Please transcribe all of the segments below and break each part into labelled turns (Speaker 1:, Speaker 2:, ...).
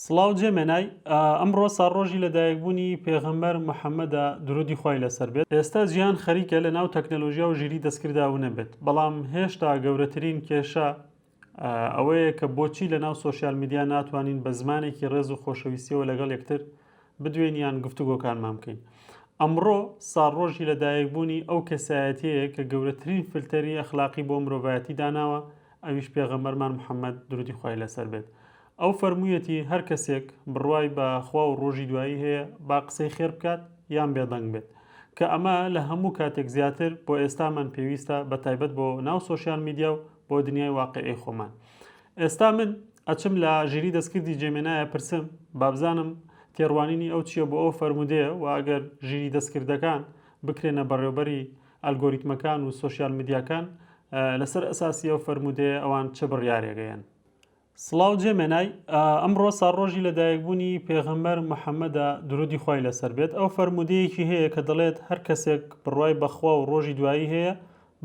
Speaker 1: سڵاو جێ مێنای، ئەمڕۆ ساڕۆژی لەدایکبوونی پێغەمبەر محەمەدە درودی خوای لەسەر بێت، ئێستا جیهان خەریکە لەناو تەکنەلۆژیا و ژیریی دەستکرددا ونبێت، بەڵام هێشتا گەورەترین کێشە ئەوەیە کە بۆچی لەناو سۆشیال میدیا ناتوانین بە زمانێکی ڕێز و خۆشەویستییەوە لەگەڵ یەکتر بدوێین یان گفتوگۆکانمان بکەین. ئەمڕۆ ساڵڕۆژی لەدایکبوونی ئەو کەسایەتیەیە کە گەورەترین فلتەری ئەخلاقی بۆ مرۆڤایەتی داناوە ئەویش پێغەمبەرمان محمد درودی خوای لەسەر بێت ئەو فەرموویەتی هەر کەسێک بڕوای بە خوا و ڕۆژی دوایی هەیە با قسەی خێر بکات یان بێدەنگ بێت کە ئەمە لە هەموو کاتێک زیاتر بۆ ئێستامان پێویستە بە تایبەت بۆ ناو سۆشیال میدیا و بۆ دنیای واقعی خۆمان ئێستا من ئەچم لە ژیری دەستکردی جێمێنایە پرسم بابزانم تێڕوانینی ئەو چییە بۆ ئەو فەرموودەیە و ئەگەر ژیری دەستکردەکان بکرێنە بەڕێوبەری ئەلگۆریتمەکان و سۆشیال میدیاکان لەسەر ئەساسی ئەو فەرموودەیە ئەوان چ بڕیارێگەیەن سڵاو جێ مێنای ئەمڕۆ ساڕۆژی لەدایکبوونی پێغەمەر محەممەدا درودی خی لەسەر بێت ئەو فەرمودەیەکی هەیە کە دەڵێت هەر کەسێک بڕای بەخوا و ڕۆژی دوایی هەیە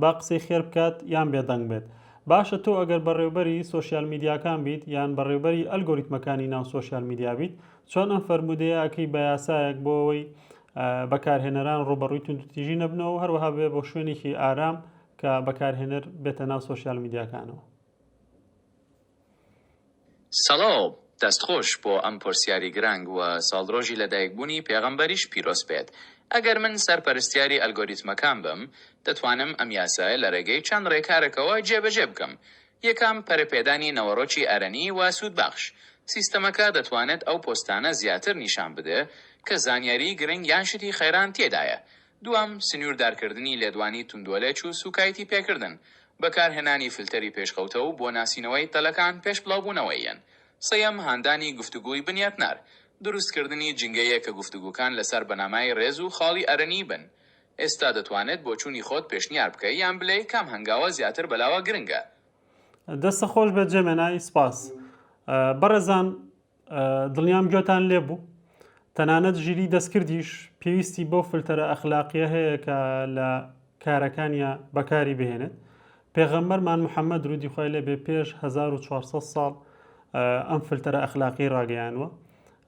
Speaker 1: با قسەی خێر بکات یان بێدەنگ بێت. باشە تۆ ئەگەر بەڕێوبەری سۆشیال میدیاکان بیت یان بەڕێوبەری ئەلگۆریتمەکانی ناو سۆشیال میدیا بیت چۆن ئەم فەرموودەیە ئەکەی بە یاسایەک بۆ ئەوەی بەکارهێنەران ڕووبەڕووی توندوتیژی نەبنەوە و هەروەها بێ بۆ شوێنێکی ئارام کە بەکارهێنەر بێتە ناو سۆشیال میدیاکانەوە.
Speaker 2: سڵاو، دەست خۆش بۆ ئەم پۆرسیاری گرانگ وە ساڵرۆژی لە دایک بونی پێغەمبەریش پیرۆز بێت ئەگەر من سەر پەرستیاری ئەلگۆریتمەکان بم دەتوانم ئەم یاسایە لە رێگەی چەند رێکارەکەوە جێ بەجێ بکەم یەکەم پەرە پێدانی نەوەڕۆکی ئەرەنی وە سود بەخش سیستەمەکە دەتوانێت ئەو پۆستانە زیاتر نیشان بدە کە زانیاری گرنگ یان شتی خێران تێدایە دووەم، سنووردارکردنی لێدوانی توندوەلێچ و سووکایتی پێکردن، بەکارهێنانی فلتەری پێشکەوتە و بۆ ناسینەوەی تەلەکان پێش بڵاوبوونەوەییان. سێیەم، هاندانی گفتوگۆی بنیاتنار، دروستکردنی جنگەیەک کە گفتوگۆکان لەسەر بنەمای رێز و خاڵی ئەرێنی بن. ئێستا دەتوانێت بۆچوونی خۆت پێشنیار بکەی یان بلێی کام هەنگاوە زیاتر بەلاوە گرنگە. دەستت خۆشبێت
Speaker 1: جێمێنای سپاس. بەڕێزان دڵنیام گوێتان لێ بوو تەنانەت ژیری دەستکردیش پێویستی بەو فلتەرە ئەخلاقیە هەیە کە لە کارەکانیان بەکاری بهێنێت پێغەمبەرمان محەممەد رودی خۆی لێ بێ پێش 1400 ساڵ ئەم فلتەرە ئەخلاقی ڕاگەیانوە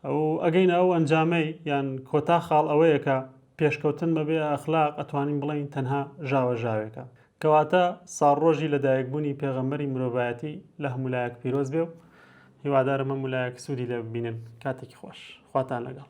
Speaker 1: ئەو ئەگەین ئەو ئەنجامەی یان کۆتا خاڵ ئەوەیە کە پێشکەوتن بەبێ ئەخلاق ئەتوانین بڵین تەنها ژاوە ژاوێکە کەواتە ساڕۆژی لەدایکبوونی پێغەمبەری مرۆڤایەتی لە هەمولایەک پیرۆز بێ و هیوادارم ئەم ولایەک سوودی لێ ببینن کاتێکی خۆش خواتان لەگەڵ